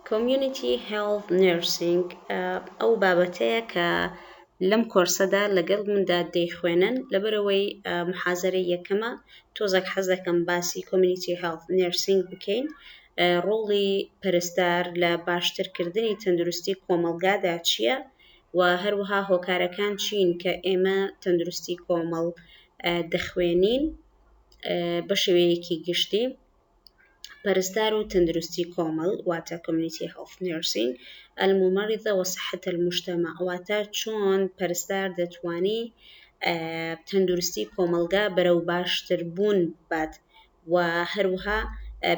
Community Health Nursing ئەو بابەتەیە کە لەم کۆرسەدا لەگەڵ مندا دەیخوێنن، لەبەرئەوەی محازەرەی یەکەمە تۆزەک حەز دەکەم باسی Community Health Nursing بکەین، ڕۆڵی پەرستار لە باشترکردنی تەندروستی کۆمەڵگادا چییە و هەروەها هۆکارەکان چین کە ئێمە تەندروستی کۆمەڵ دەخوێنین بەشێوەیەکی گشتی. پەرستار و تەندروستی کۆمەڵ واتە Community Health Nursing، الممرضە و صحت المجتمع واتە چۆن پەرستار دەتوانی تەندروستی کۆمەلگا بەرەو باشتربوون بات و هەروها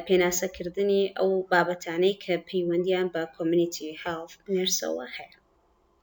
پێناسەکردنی ئەو بابەتانەی کە پەیوەندیان بە Community Health Nurse ەوە هەیە.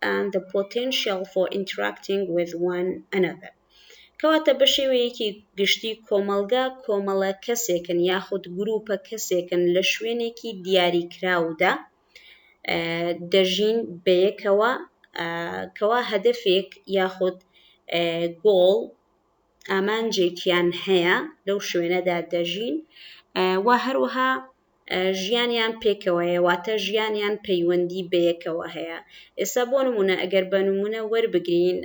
and the potential for interacting with one another کەواتە بە شێوەیەکی گشتی کۆمەڵگا کۆمەڵە کەسێکن یاخود گروپە کەسێکن لە شوێنێکی دیاری کراودا دەژین بەیەکەوە کەوا هەدفێک یاخود گۆڵ ئامانجێکیان هەیە لەو شوێنەدا دەژین و هەروەها ژیانیان پێکەوەیە واتە ژیانیان پەیوەندی بەیەکەوە هەیە ئێستا بۆ نمونە ئەگەر بە نمونە وەربگرین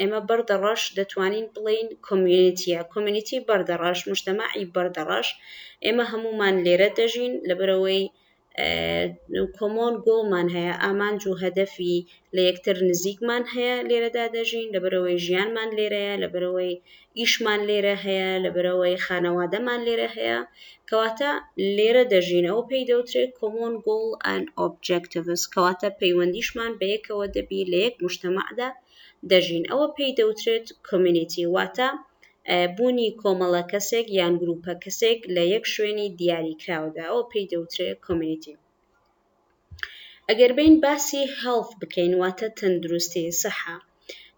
ئێمە بەردەڕەش دەتوانین بڵین کۆمیونیتیە کۆمیونیتی بەردەڕەش مشتەماعی بەردەڕەش ئێمە هەمومان لێرە دەژین لەبەرەوەی کۆمۆن گۆڵمان هەیە ئامانج و هەدەفی لە یەکتر نزیکمان هەیە لێرەدا دەژین لەبەرەوەی ژیانمان لێرەیە لەبەرەوەی ئیشمان لێرە هەیە لەبەرەوەی خانەوادەمان لێرە هەیە کەواتە لێرە دەژین ئەو پێی دەوترێت کۆمۆن گۆڵ ئەن ئۆبجکتڤس کەواتە پەیوەندیشمان بە یەکەوە دەبی لە یەک مشتەمەعدا دەژین ئەوە پێی دەوترێت کۆمیونیتی واتە بوونی کۆمەڵە کەسێک یان گروپە کەسێک لە یەک شوێنی دیاریکراودا ئەو پێی دەوترێت کۆمیونیتی ئەگەر بێین باسی Health بکەین واتە تەندروستی، سەحە،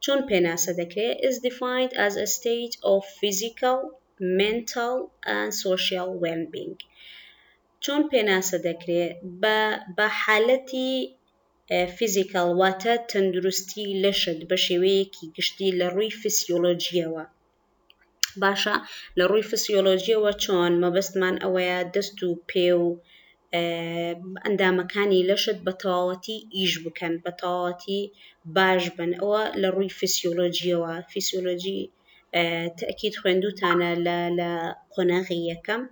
چۆن پێناسە دەکرێت Is defined as a state of physical، mental and social wellbeing چۆن پێناسە دەکرێت بە بە حالەتی Physical واتە تەندروستی لەشت بە شێوەیەکی گشتی لە ڕووی فسیۆلۆجیەوە، باشە لە ڕووی فسیۆلۆژیەوە چۆن مەبەستمان ئەوەیە دەست و پێ و ئەندامەکانی لەشت بە تەواوەتی ئیش بکەن بە تەواوەتی باش بن ئەوە لە ڕووی فسیۆلۆژیەوە فسیۆلۆژی تاکیید خوێندوتانە لە لە قۆناغی یەکەم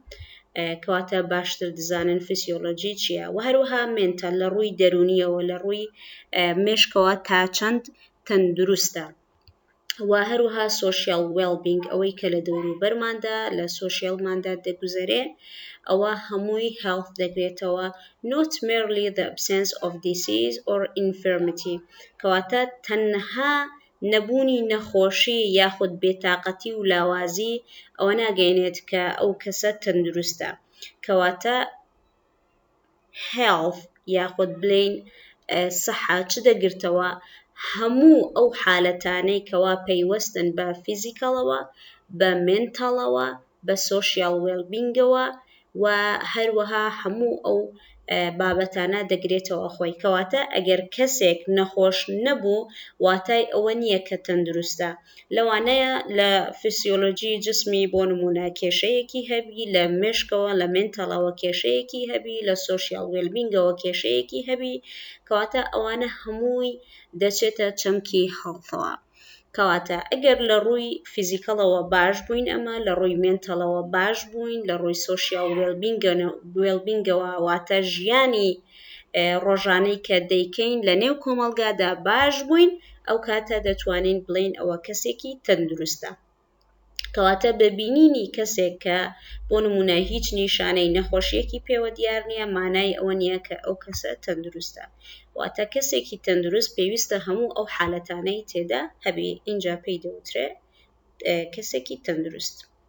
کەواتە باشتر دزانن فسیۆلۆژی چییە و هەروەها مێنتە لە ڕووی دەرونیەوە لە ڕووی مێشکەوە تا چەند تەندروستە و هەروەها سۆشیال وێڵبینگ ئەوەی کە لە دەوروبەرماندا لە سۆشیالماندا دەگوزەرێ ئەوە هەمووی هێڵت دەگرێتەوە نۆت مێرلی دە ئەبسێنس ئۆف دیسیز ئۆر ئینفێرمتی کەواتە تەنها نەبوونی نەخۆشی یاخود بێتاقەتی و لاوازی ئەوە ناگەینێت کە ئەو کەسە تەندروستە کەواتە health یاخود بلین سەحە چ دەگرتەوە هەموو ئەو حالەتانەی کەوا پەیوەستن بە فیزیکەڵەوە بە منتاڵەوە بە سۆشیال وێلبینگەوە و هەروەها هەموو ئەو بابەتانە دەگرێتەوە خۆی کەواتە ئەگەر کەسێک نەخۆش نەبوو واتای ئەوە نییە کە تەندروستە لەوانەیە لە فیسیۆلۆجی جسمی بۆ نموونە کێشەیەکی هەبی، لە مێشکەوە لە مێنتەڵەوە کێشەیەکی هەبی، لە سۆشیاڵ وێلبینگەوە کێشەیەکی هەبی، کەواتە ئەوانە هەمووی دەچێتە چەمکی هێڵثەوە. کەواتە ئەگەر لە ڕووی فیزیکەڵەوە باش بووین ئەمە، لە ڕووی مێنتەڵەوە باش بووین، لە ڕووی سۆشیاڵ وێلبینگەوە واتە ژیانی ڕۆژانەی کە دەیکەین لە نێو کۆمەڵگادا باش بووین ئەو کاتە دەتوانین بڵین ئەوە کەسێکی تەندروستە کەواتە بە بینینی کەسێک کە بۆ نمونە هیچ نیشانەی نەخۆشیەکی پێوە دیار نییە مانای ئەوە نییە کە ئەو کەسە تەندروستە واتە کەسێکی تەندروست پێویستە هەموو ئەو حالەتانەی تێدا هەبێ اینجا پێی دەوترێ کەسێکی تەندروست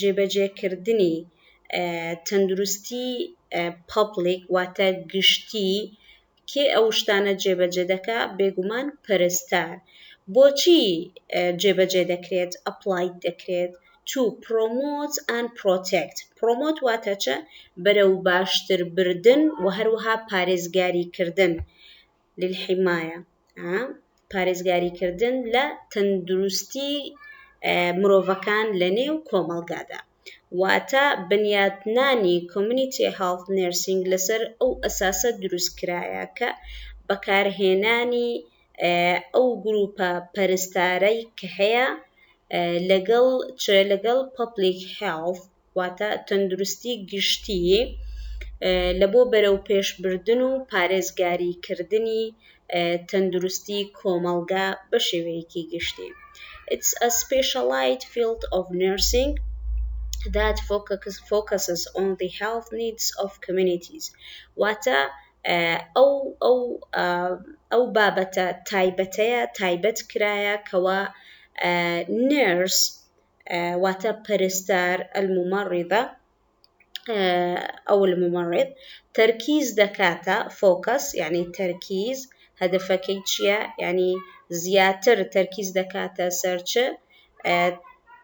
جێبەجێکردنی تەندروستی پەبلیک واتە گشتی کێ ئەو شتانە جێبەجێ دەکا بێگومان پەرستار بۆچی جێبەجێ دەکرێت ئەپلایت دەکرێت تو پرۆمۆت ئەن پرۆتێکت پرۆمۆت واتە چە بەرەو باشتر بردن و هەروەها پارێزگاری کردن للحمایە، پارێزگاریکردن لە تەندروستی مرۆڤەکان لە نێو کۆمەڵگادا، واتە بنیاتنانی Community Health Nursing لەسەر ئەو ئەساسە دروستکرایە کە بەکارهێنانی ئەو گروپە پەرستارەی کە هەیە لەگەڵ چ لەگەڵ Public Health واتە تەندروستی گشتی لە بۆ بەرەوپێشبردن و پارێزگاریکردنی تەندروستی کۆمەڵگا بە شێوەیەکی گشتی It's a specialized field of nursing that focuses on the health needs of communities واتە ئەو ئەو ئەو بابەتە تایبەتەیە تایبەت کرایە کەوا نێرس واتە پەرستار، الممرضە، ە، او الممرض، تەرکیز دەکاتە، فۆکەس، یعنی تەرکیز، هەدەفەکەی چییە؟ یعنی زیاتر تەرکیز دەکاتە سەر چ؟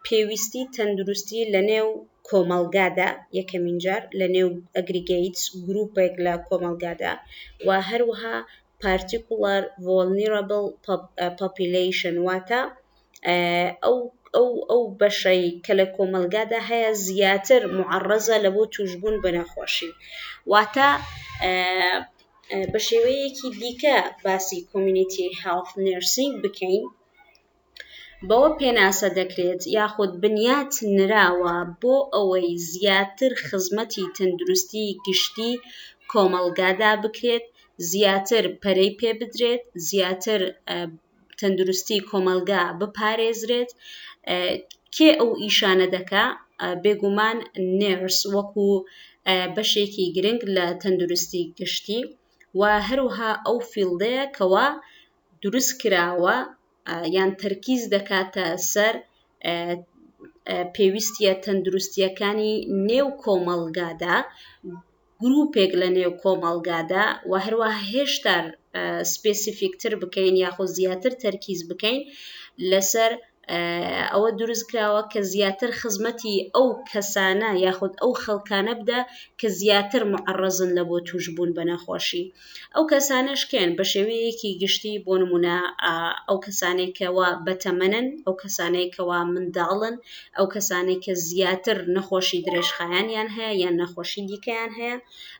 پێویستی تەندروستی لە نێو کۆمەڵگادا، یەکەمین جار لە نێو ئەگریگەیت، گروپێک لە کۆمەڵگادا و هەروەها پارتیکوڵەر ڤۆڵنیڕەبڵ پۆپیلەیشن، واتە ئەو ئەو ئەو بەشەی کە لە کۆمەلگادا هەیە زیاتر معڕەزە لە بۆ توشبوون بە نەخۆشی واتە بە شێوەیەکی دیکە باسی کۆمیونیتی هاڵف نرسینگ بکەین بەوە پێناسە دەکرێت یاخود بنیات نراوە بۆ ئەوەی زیاتر خزمەتی تەندروستی گشتی کۆمەلگادا بکرێت زیاتر پەرەی پێ بدرێت زیاتر تەندروستی کۆمەلگا بپارێزرێت کێ ئەو ئیشانە دەکا بێگومان نێرس وەکو بەشێکی گرنگ لە تەندروستی گشتی و هەروها ئەو فیلدەیە کەوا دروست کراوە یان تەرکیز دەکاتە سەر پێویستە تەندروستیەکانی نێو کۆمەلگادا گروپێک لە نێو کۆمەڵگادا و هەروەها هێشتا سپێسیفیکتر بکەین یاخۆ زیاتر تەرکیز بکەین لەسەر ئەوە دروست کراوە کە زیاتر خزمەتی ئەو کەسانە یاخود ئەو خەڵکانە بدە کە زیاتر معڕزن لە بۆ توشببوون بە نەخۆشی ئەو کەسانەش کێن؟ بە شێوەیەکی گشتی بۆ نمونە ئەو کەسانەی کەوا بەتەمەنن، ئەو کەسانەی کەوا منداڵن، ئەو کەسانەی کە زیاتر نەخۆشی درێژخایەنیان هەیە یان نەخۆشی دیکەیان هەیە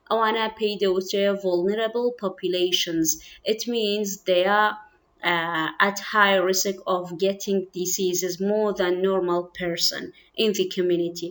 ئەوانە پێی دەوترێ vulnerable populations it means they are uh, at high risk of getting diseases more than normal person in the community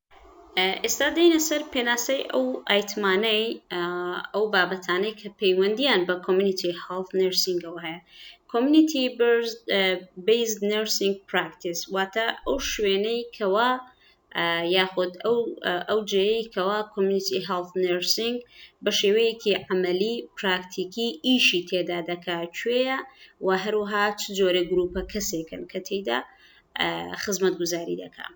ئێستا دێینە سەر پێناسەی ئەو ئایتمانەی ئەو بابەتانەی کە پەیوەندیان بە کۆمیونیتی هەڵت نرسینگەوە هەیە کۆمیونیتی بیز نرسینگ پراکتیس واتە ئەو شوێنەی کەوا یاخود ئەو ئەو جێەی کەوا کۆمیونیتی هەڵت نرسینگ بە شێوەیەکی عملی پراکتیکی ئیشی تێدا دەکات کوێە و هەروها چ جۆرە گروپە کەسێکن کە تێدا خزمەت گوزاری دەکات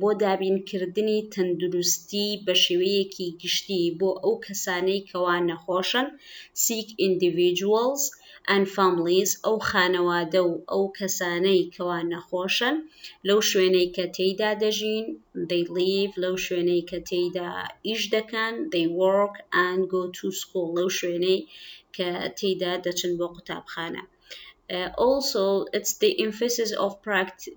بۆ دابینکردنی تەندروستی بە شێوەیەکی گشتی بۆ ئەو کەسانەی کەوا نەخۆشن، Sick Individuals and Families، ئەو خانەوادە و ئەو کەسانەی کەوا نەخۆشن لەو شوێنەی کە تێیدا دەژین، They live، لەو شوێنەی کە تێیدا ئیش دەکەن، They work and go to school، لەو شوێنەی کە تێیدا دەچن بۆ قوتابخانە. Also, it's the emphasis of practice.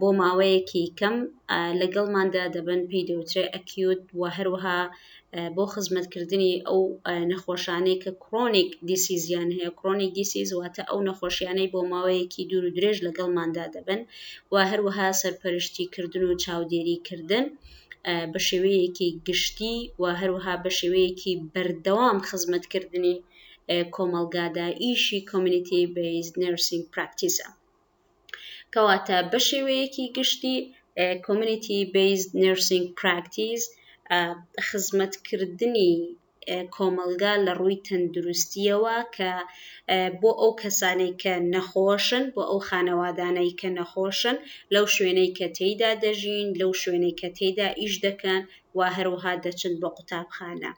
بۆ ماوەیەکی کەم لەگەڵماندا دەبن پێی دەوترێ ئەکیوت و هەروەها بۆ خزمەتکردنی ئەو نەخۆشانەی کە کرۆنیک دیسیزیان هەیە کرۆنیک دیسیز واتە ئەو نەخۆشیانەی بۆ ماوەیەکی دوور و درێژ لەگەڵماندا دەبن و هەروەها سەرپەرشتی کردن و چاودێری کردن بە شێوەیەکی گشتی و هەروەها بە شێوەیەکی بەردەوام خزمەتکردنی کۆمەلگادا ئیشی کۆمیونیتی بەیز نرسینگ پراکتیسە. کەواتە بەشێوەیەکی گشتی کۆمەنیتی بەیز نرسینگ پراکتیز خزمەتکردنی کۆمەلگا لە ڕووی تەندروستیەوە کە بۆ ئەو کەسانەی کە نەخۆشن بۆ ئەو خانەوادانەی کە نەخۆشن لەو شوێنەی کە تێیدا دەژین لەو شوێنەی کە تێدا ئیش دەکەن و هەروها دەچن بۆ قوتابخانە.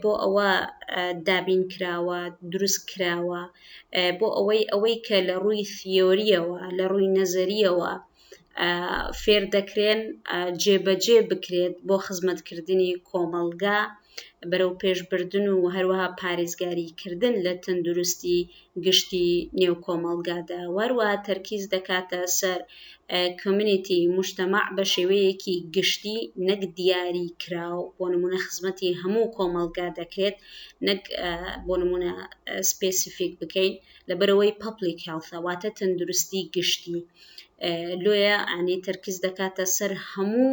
بۆ ئەوە دابین کراوە دروست کراوە بۆ ئەوەی ئەوەی کە لە ڕووی ثیۆریەوە لە ڕووی نەزەریەوە فێر دەکرێن جێبەجێ بکرێت بۆ خزمەتکردنی کۆمەڵگا بەرەو پێشبردن و هەروەها پارێزگاری کردن لە تەندروستی گشتی نێو کۆمەڵگادا وەروا تەرکیز دەکاتە سەر کۆمینیتی مشتەماع بە شێوەیەکی گشتی نەک دیاری کراو بۆ نمونە خزمەتی هەموو کۆمەڵگا دەکرێت نەک بۆ نمونە سپسیفیک بکەین لەبەرەوەی پەپلیک هێڵثە واتە تەندروستی گشتی لۆیە ئەنی تەرکیز دەکاتە سەر هەموو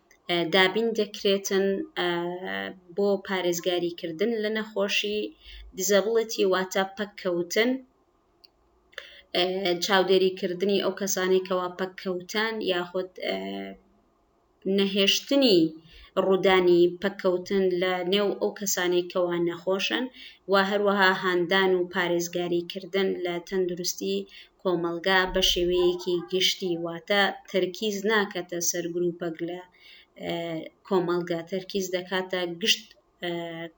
دابین دەکرێتن بۆ پارێزگاریکردن لە نەخۆشی دیزەبڵەتی واتە پەککەوتن چاودێریکردنی ئەو کەسانی کەوا پەککەوتان یاخود نەهێشتنی ڕوودانی پەککەوتن لە نێو ئەو کەسانی کەوا نەخۆشن و هەروەها هاندان و پارێزگاریکردن لە تەندروستی کۆمەڵگا بە شێوەیەکی گشتی واتە تەرکیز ناکەتە سەر گروپەک لە کۆمەڵگا تەرکیز دەکاتە گشت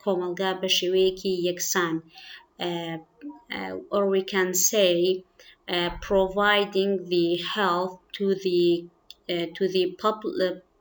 کۆمەڵگا بە شێوەیەکی یەکسان or we can say uh, providing the health to the uh, to the public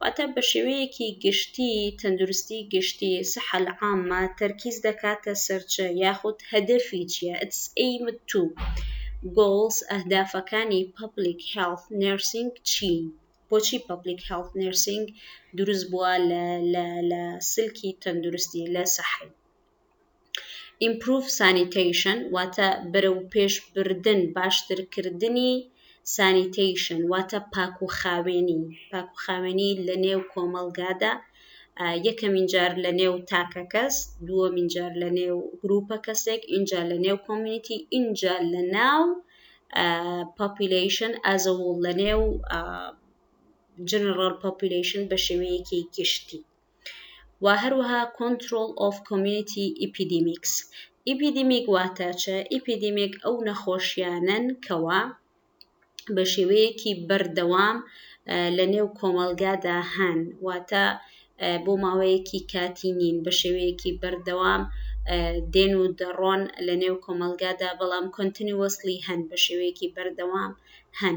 واتە بە شێوەیەکی گشتی تەندروستی گشتی، صحە العامە، تەرکیز دەکاتە سەر چ یاخود هەدەفی چیە، its aim to، goals، ئەهدافەکانی Public Health Nursing چین؟ بۆچی Public Health Nursing دروست بووە لە سلکی تەندروستی، لە صحەی. ئیمپروڤ سانیتەیشن واتە بەرەو پێش بردن باشتر کردنی سانیتەیشن واتە پاک و خاوێنی پاک و خاوێنی لە نێو کۆمەڵگادا یەکەمین جار لە نێو تاکە کەس دووەمین جار لە نێو گروپە کەسێک اینجا لە نێو کۆمیونیتی اینجا لە ناو پاپیلیشن ئازەوڵ لە نێو جنرال پاپیلیشن بە شێوەیەکی گشتی و هەروەها Control of Community Epidemics ئیپیدیمیک واتە چ؟ ئیپیدیمیک ئەو نەخۆشیانەن کەوا بە شێوەیەکی بەردەوام لە نێو کۆمەلگادا هەن واتە بۆ ماوەیەکی کاتی نین بە شێوەیەکی بەردەوام دێن و دەڕۆن لە نێو کۆمەلگادا بەڵام کۆنتنیوەسلی هەن بە شێوەیەکی بەردەوام هەن.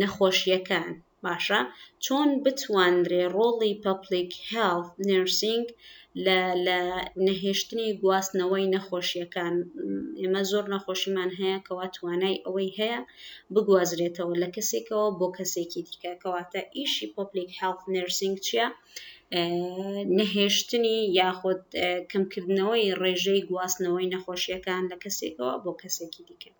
نەخۆشییەکان، باشە چۆن بتوانرێ ڕۆڵی پەپڵیک هێڵت نێرسینگ لە لە نەهێشتنی گواستنەوەی نەخۆشییەکان، ئێمە زۆر نەخۆشیمان هەیە کەوا توانای ئەوەی هەیە بگوازرێتەوە لە کەسێکەوە بۆ کەسێکی دیکە، کەواتە ئیشی پەپڵیک هێڵت نێرسینگ چییە؟ نەهێشتنی یاخود کەمکردنەوەی ڕێژەی گواستنەوەی نەخۆشییەکان لە کەسێکەوە بۆ کەسێکی دیکە.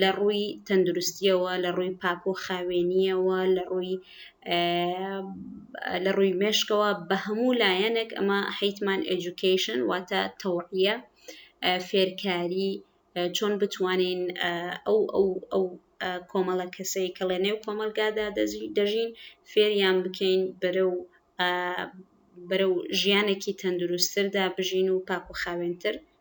لە ڕووی تەندروستییەوە، لە ڕووی پاک و خاوێنییەوە، لە ڕووی لە ڕووی مێشکەوە، بە هەموو لایەنێک ئەمە حیتمان ئێجوکەیشن واتە تەوعیە فێرکاری چۆن بتوانین ئەو ئەو ئەو کۆمەڵە کەسەی کە لە نێو کۆمەلگادا دەژین فێریان بکەین بەرە و بەرە و ژیانێکی تەندروستتردا بژین و پاک و خاوێنتر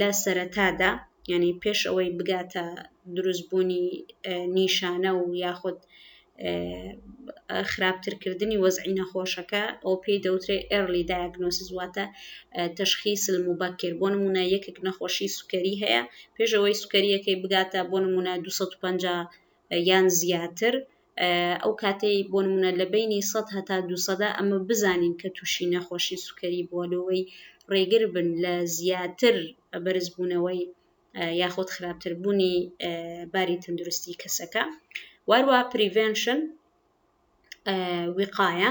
لە سەرەتادا یعنی پێش ئەوەی بگاتە دروستبوونی نیشانە و یاخود خراپترکردنی وەزعی نەخۆشەکە ئەو پێی دەوترێ ئێرلی دایگنۆسیس واتە تەشخی سلم و بەکر بۆ نمونە یەکێک نەخۆشی سوکەری هەیە پێشەوەی سوکەریەکەی بگاتە بۆ نمونە 250 یان زیاتر ئەو کاتەی بۆ نمونە لە بەینی سەد هەتا دوو سەدا ئەمە بزانین کە تووشی نەخۆشی سوکەری بووە لەوەی ڕێگر بن لە زیاتر بەرزبوونەوەی یاخود خراپتر بوونی باری تەندروستی کەسەکە واروا پریڤێنشن وقاە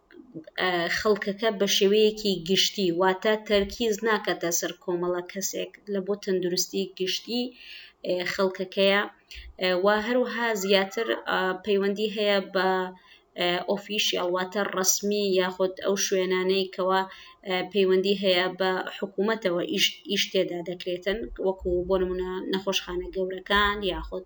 خەڵکەکە بە شێوەیەکی گشتی واتە تەرکیز ناکەتە سەر کۆمەڵە کەسێک لە بۆ تەندروستی گشتی خەڵکەکەیە و هەروها زیاتر پەیوەندی هەیە بە ئۆفیشیال واتە ڕسمی یاخود ئەو شوێنانەی کەەوە پەیوەندی هەیە بە حکوومەتەوە ئیش تێدا دەکرێتن وەکو بۆ نمونە نەخۆشخانە گەورەکان یاخود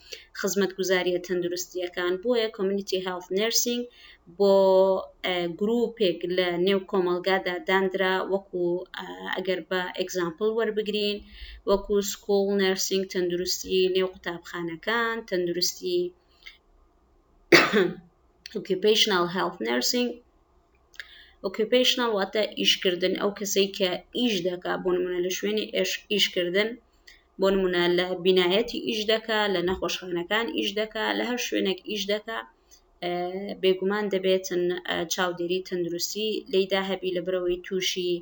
خزمەتگوزاریە تەندروستیەکان بۆیە کۆمنیتی هێڵت نرسینگ بۆ گروپێک لە نێو کۆمەلگادا دانرا وەکو ئەگەر بە ئەگزامپل وەربگرین وەکو سکوڵ نرسینگ تەندروستی نێو قوتابخانەکان تەندروستی ئۆکیپیشنال هێڵت نرسینگ ئۆکیپیشنال واتە ئیشکردن ئەو کەسەی کە ئیش دەکا بۆ منە لە شوێنی ئیشکردن بۆ نمونە لە بینایەتی ئیش دەکا لە نەخۆشخانەکان ئیش دەکا لە هەر شوێنێک ئیش دەکا بێگومان دەبێتن چاودێری تەندروستی لێدا هەبی لە برەوەی تووشی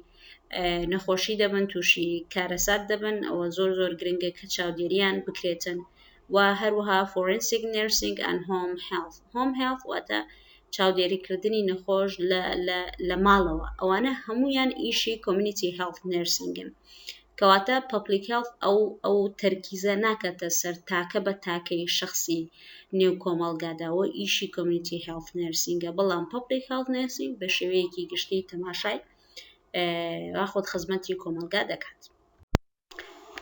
نەخۆشی دەبن تووشی کارەسات دەبن ئەوە زۆر زۆر گرنگە کە چاودێریان بکرێتن و هەروها فۆرنسیک نرسینگ ئەن هۆم هێڵ هۆم هێڵ واتە چاودێریکردنی نەخۆش لە ماڵەوە ئەوانە هەمویان ئیشی کۆمیونیتی هێڵ نرسینگن کەواتە پەبلیک هێڵث ئەو ئەو تەرکیزە ناکاتە سەر تاکە بە تاکەی شەخسی نێو کۆمەڵگادا و ئیشی کۆمنیتی هێڵث نێرسینگە بەڵام پەبلیک هێڵث نێرسینگ بە شێوەیەکی گشتی تەماشای واخود خزمەتی کۆمەڵگا دەکات.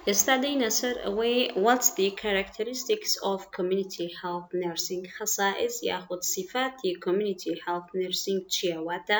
ئێستا دێینە سەر ئەوەی What's the characteristics of community health nursing خەسائس یاخود سیفاتی community health nursing چییە واتە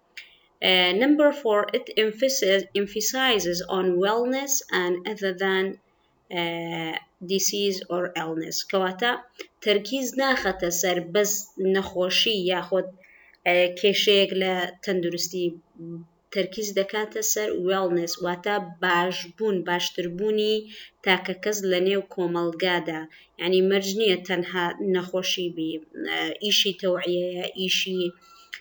Number four, it emphasizes on wellness and other than disease or illness کەواتە تەرکیز ناخەتە سەر بەس نەخۆشی یاخۆد کێشەیەک لە تەندروستی تەرکیز دەکاتە سەر wellness واتە باشبوون باشتربوونی تاکە کەس لە نێو کۆمەڵگادا یعنی مەرج نییە تەنها نەخۆشی بی ئیشی تەوعیەیە ئیشی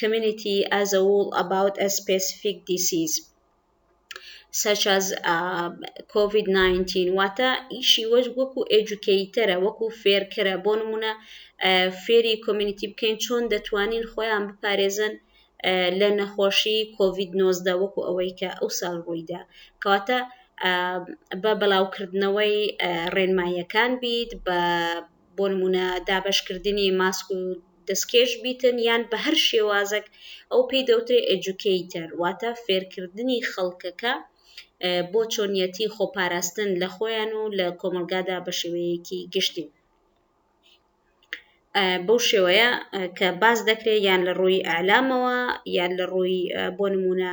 Community as a whole about a specific disease such as COVID-19 واتە ئیشی وەش وەکو ئێجوکەیتەرە وەکو فێرکەرە بۆ نمونە فێری کۆمیونیتی بکەین چۆن دەتوانین خۆیان بپارێزن لە نەخۆشی کۆVید 19 وەکو ئەوەی کە ئەو ساڵ ڕوویدا کەواتە بە بەڵاوکردنەوەی ڕێنماییەکان بیت بە بۆ نموونە دابەشکردنی ماسک و دەستکێش بیتن یان بە هەر شێوازەک ئەو پێی دەوترێ ئەجوکەیتەر واتە فێرکردنی خەڵکەکە بۆ چۆنیەتی خۆپاراستن لە خۆیان و لە کۆمەلگادا بە شێوەیەکی گشتی بەو شێوەیە کە باز دەکرێت یان لە ڕووی ئالامەوە یان لە ڕووی بۆ نمونە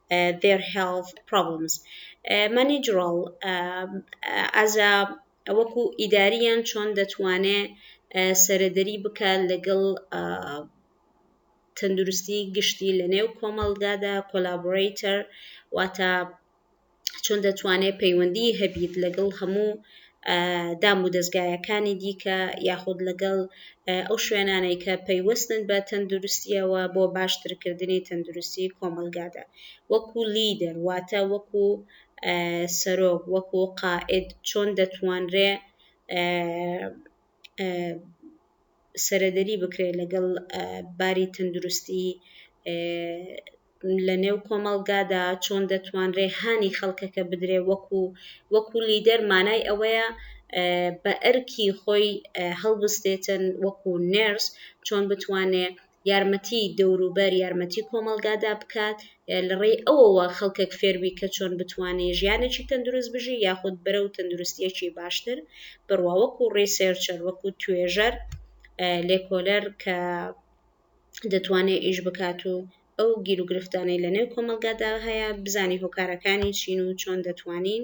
their health problems managerial as a وەکو ئیداری یان چۆن دەتوانێ سەرەدەری بکە لەگەڵ تەندروستی گشتی لە نێو کۆمەڵگادا کۆلابڕیتەر واتە چۆن دەتوانێت پەیوەندی هەبیت لەگەڵ هەموو دامودەزگایەکانی دیکە یاخود لەگەڵ ئەو شوێنانەی کە پەیوەستن بە تەندروستیەوە بۆ باشترکردنی تەندروستی کۆمەلگادا وەکو لیدەر واتە وەکو سەرۆک وەکو قائد چۆن دەتوانرێ سەرەدەری بکرێت لەگەڵ باری تەندروستی لە نێو کۆمەڵگادا چۆن دەتوانرێ هانی خەڵکەکە بدرێ وەکو وەکو لیدەر مانای ئەوەیە بە ئەرکی خۆی هەڵبستێتن وەکو نێرس چۆن بتوانێ یارمەتی دەوروبەر یارمەتی کۆمەڵگادا بکات لە ڕێی ئەوەوە خەڵکێک فێربی کە چۆن بتوانێ ژیانێکی تەندروست بژی یاخود بەرەو تەندروستیەکی باشتر بڕوا وەکو ڕێسێرچەر وەکو توێژەر لێکۆلەر کە دەتوانێت ئیش بکات و ئەو گیرروگرفتانەی لە نێو کۆمەلگادا هەیە بزانانی هۆکارەکانی چین و چۆن دەتوانین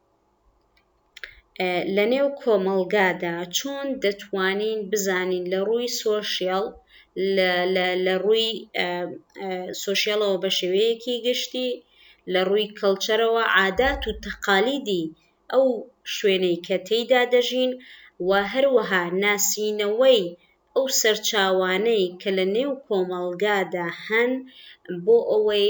لە نێو کۆمەڵگادا چۆن دەتوانین بزانین لە ڕووی سۆشیاڵ لە ڕووی سۆشیاڵەوە بە شێوەیەکی گشتی لە ڕووی کەڵچەرەوە عادات و تەقالیدی ئەو شوێنەی کە تێیدا دەژین و هەروەها ناسینەوەی ئەو سەرچاوانەی کە لە نێو کۆمەڵگادا هەن بۆ ئەوەی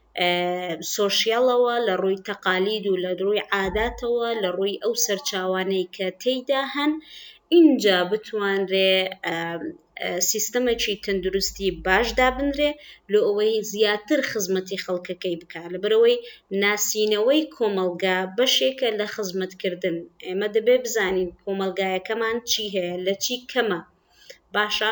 سۆشیاڵەوە، لە ڕووی تەقالید و لە ڕووی عاداتەوە، لە ڕووی ئەو سەرچاوانەی کە تێیدا هەن، ئینجا بتوانرێ سیستەمێکی تەندروستی باش دابنرێ، لۆ ئەوەی زیاتر خزمەتی خەڵکەکەی بکا، لەبەرئەوەی ناسینەوەی کۆمەڵگا بەشێکە لە خزمەتکردن، ئێمە دەبێ بزانین کۆمەڵگایەکەمان چی هەیە، لە چی کەمە، باشە.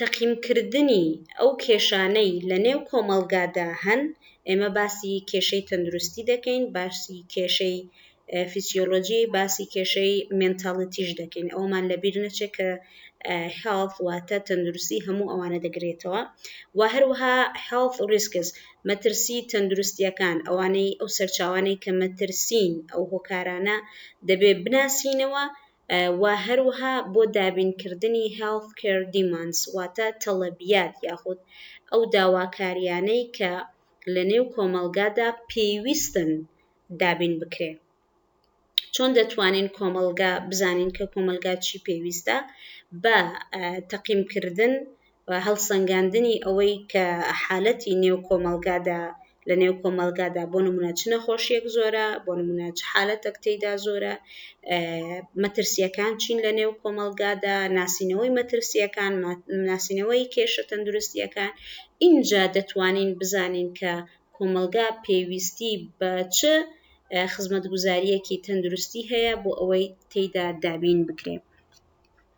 تەقیمکردنی ئەو کێشانەی لە نێو کۆمەڵگادا هەن، ئێمە باسی کێشەی تەندروستی دەکەین، باسی کێشەی فیسیۆلۆجی، باسی کێشەی مێنتاڵیتیش دەکەین، ئەوەمان لە بیر نەچێت کە Health واتە تەندروستی هەموو ئەوانە دەگرێتەوە و هەروەها Health Risks مەترسی تەندروستییەکان، ئەوانەی ئەو سەرچاوانەی کە مەترسین، ئەو هۆکارانە دەبێت بناسینەوە، و هەروەها بۆ دابینکردنی Health Care Demands واتە تەڵەبیات یاخود ئەو داواکاریانەی کە لە نێو کۆمەڵگادا پێویستن دابین بکرێ. چۆن دەتوانین کۆمەڵگا بزانین کە کۆمەلگا چی پێویستە بە تەقیمکردن و هەڵسەنگاندنی ئەوەی کە حالەتی نێو کۆمەڵگادا لە نێو کۆمەڵگادا بۆ نمونە چ نەخۆشیەک زۆرە بۆ نمونە چ حالەتەک تێیدا زۆرە مەترسیەکان چین لە نێو کۆمەڵگادا ناسینەوەی مەترسیەکان ناسینەوەی کێشە تەندروستیەکان ئینجا دەتوانین بزانین کە کۆمەلگا پێویستی بە چ خزمەتگوزاریەکی تەندروستی هەیە بۆ ئەوەی تێیدا دابین بکرێ.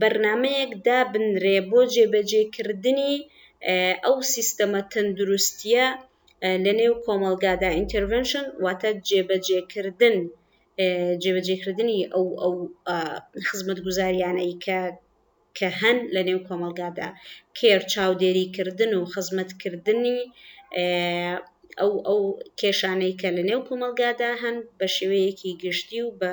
بەرنامەیەک دابنرێ بۆ جێبەجێکردنی ئەو سیستەمە تەندروستیە لە نێو کۆمەلگادا ئینتەرڤنشن واتە جێبەجێکردن جێبەجێکردنی ئەو ئەو خزمەت گوزاریانەی کە کە هەن لە نێو کۆمەلگادا کێر چاودێریکردن و خزمەتکردنی ئەو ئەو کێشانەی کە لە نێو کۆمەلگادا هەن بە شێوەیەکی گشتی و بە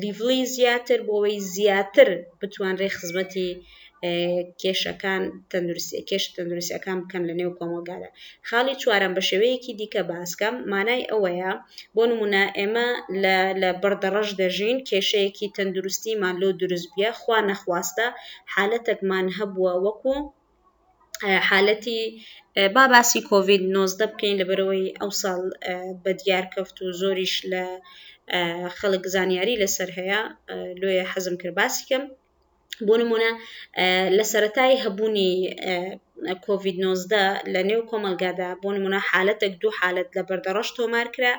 لیڤڵی زیاتر بۆەوەی زیاتر بتوانرێ خزمەتی کێشەکان تەندروستی کێش تەندروستەکان بکەن لە نێو کۆمەلگادا خاڵی چوارم بە شێوەیەکی دیکە باسکەم مانای ئەوەیە بۆ نمونە ئێمە لە بەردەڕەش دەژین کێشەیەکی تەندروستیمان لۆ دروستبیە خوا نەخواستە حالەتەکمان هەبووە وەکو حالەتی با باسی کۆڤید نۆزدە بکەین لەبەرەوەی ئەو ساڵ بە دیارکەفت و زۆریش لە خەڵک زانیاری لەسەر هەیە لۆیە حەزم کرد باسی کەم بۆ نمونە لە سەتای هەبوونی کۆڤید نۆزدە لە نێو کۆمەلگادا بۆ نمونە حالەتێک دوو حالت لە بەردەڕەش تۆمارکرا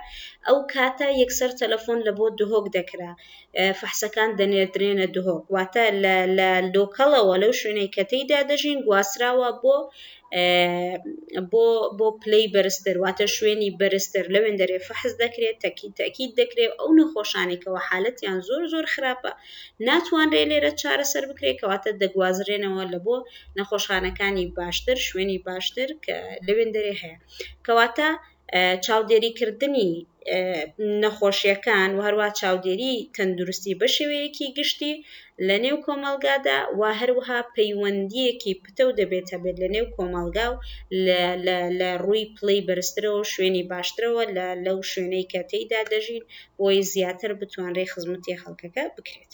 ئەو کاتە یەکسەر تەلەفۆن لە بۆ دهۆک دەکرا فەحسەکان دەنێردرێنە دهۆک واتە لە لۆکەڵەوە لەو شوێنەی کە تێیدا دەژین گواستراوە بۆ بۆ بۆ پلەی بەرزتر واتە شوێنی بەرزتر لەوێن دەرێ فەحز دەکرێت تەکی تاکیید دەکرێت ئەو نەخۆشانێکەوە حالەتیان زۆر زۆر خراپە ناتوانرێ لێرە چارەسەر بکرێت کەواتە دەگوازرێنەوە لە بۆ نەخۆشخانەکانی باشتر شوێنی باشتر کە لەوێن دەرێ هەیە کەواتە چاودێریکردنی نەخۆشیەکان و هەروە چاودێری تەندروستی بە شێوەیەکی گشتی لە نێو کۆمەلگادا و هەروها پەیوەندیەکی پتە و دەبێت هەبێت لە نێو کۆمەلگا و لە ڕووی پلەی بەرزترەوە شوێنی باشترەوە لە لەو شوێنەی کە تێیدا دەژین بۆی زیاتر بتوانرێ خزمەتی خەڵکەکە بکرێت.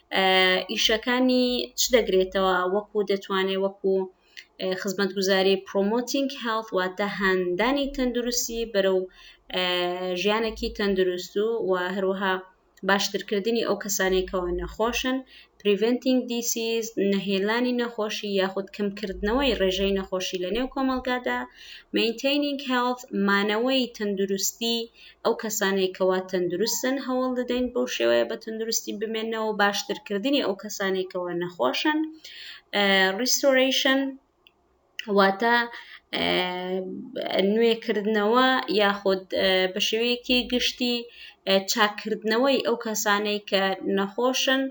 ئیشەکانی چ دەگرێتەوە وەکو دەتوانێت وەکو خزمەتگوزاری پرۆمۆتینگ هێڵت واتە هاندانی تەندروستی بەرەو ژیانێکی تەندروست و و هەروەها باشترکردنی ئەو کەسانێکەوە نەخۆشن پریڤنتینگ دیسیز نەهێلانی نەخۆشی یاخود کەمکردنەوەی ڕێژەی نەخۆشی لە نێو کۆمەلگادا مینتینینگ هێڵت مانەوەی تەندروستی ئەو کەسانەی کەوا تەندروستن هەوڵ دەدەین بەو شێوەیە بە تەندروستی بمێنەوە باشترکردنی ئەو کەسانەی کەوا نەخۆشن ریستۆرەیشن واتە نوێکردنەوە یاخود بە شێوەیەکی گشتی چاکردنەوەی ئەو کەسانەی کە نەخۆشن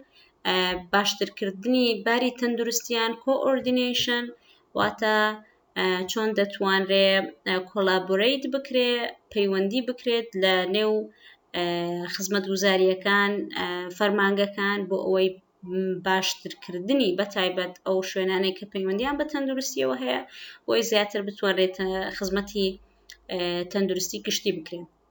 باشترکردنی باری تەندروستیان کۆئۆردینیشن واتە چۆن دەتوانرێ کۆلابۆرەیت بکرێ پەیوەندی بکرێت لە نێو خزمەت وزاریەکان فەرمانگەکان بۆ ئەوەی باشترکردنی بە تایبەت ئەو شوێنانەی کە پەیوەندیان بە تەندروستیەوە هەیە بۆی زیاتر بتوانرێت خزمەتی تەندروستی گشتی بکرێن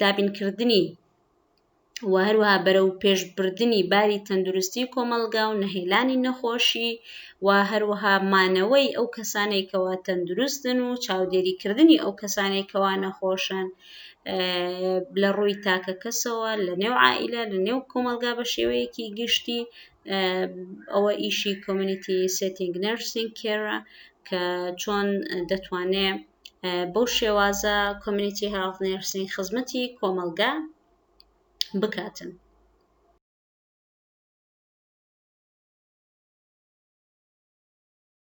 دابینکردنی و هەروەها بەرەو پێشبردنی باری تەندروستی کۆمەلگا و نەهێلانی نەخۆشی و هەروەها مانەوەی ئەو کەسانێکەوە تەندروستن و چاودێریکردنی ئەو کەسانێکەوە نەخۆشن لە ڕووی تاکە کەسەوە لە نێو عائلە لە نێو کۆمەلگا بە شێوەیەکی گشتی ئەوە ئیشی کۆمیونیتی سێتینگ نەرسینگ کێرە کە چۆن دەتوانێت بەو شێوازە کۆمیونیتی هێڵت نێرسین خزمەتی کۆمەڵگا بکاتن.